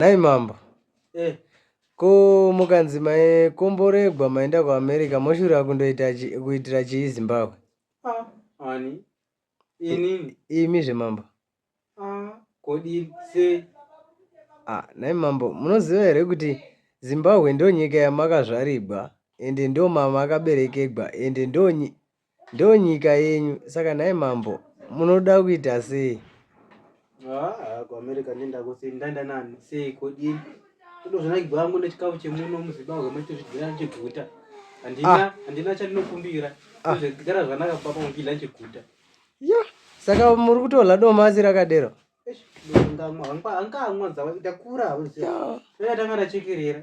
Nhai mambo eh. Ko mukanzi maikomboregwa maenda kuamerica moshura kundoita kuitira chii zimbabwe ah, ani inini imi zvemambo ah, kodi sei ah, nhai mambo munoziva here kuti zimbabwe ndo nyika yamakazvarigwa ende ndo mama akaberekegwa ende ndo Ndonyika yenyu saka nhai mambo munoda kuita sei? Haa kuAmerica ndenda kusei ndaenda nani sei kodini ndozvinakidza wangu nechikafu chemuno muZimbabwe machitozvidyira chiguta handina ah. handina chandinokumbira ah. zvigara zvanaka papa mukidya chiguta ya saka muri kutorla domasi rakadero hangamwa hangamwa dzava ndakura hauziva yeah. tanga ndachekerera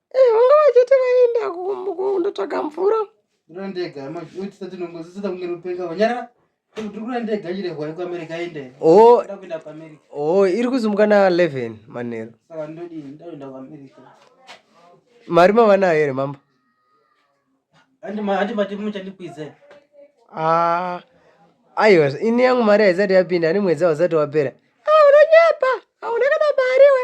Eh, vanga vachiti vaenda kundotsvaga mvura ndiro ndega maitisa tinongozisita kunge rupenga vanyarara ndikura ndega chirehwa yekuamerica aende oh. nda kuenda kuamerica o oh, iri kuzumuka na 11 manheru saka ndodii ndaenda kuamerica mari mavanayo here mambo handi mati muchandikwidza ah, aiwa ini yangu mari haisati yapinda ani mwedzi hausati wapera ah, unonyepa hauna kana mari we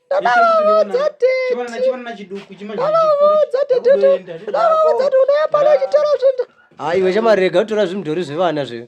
ndakavaudza teteavaudza tete unoyapana chitoro zvinda haiwe chamarega utora zvimudhori zvevana zve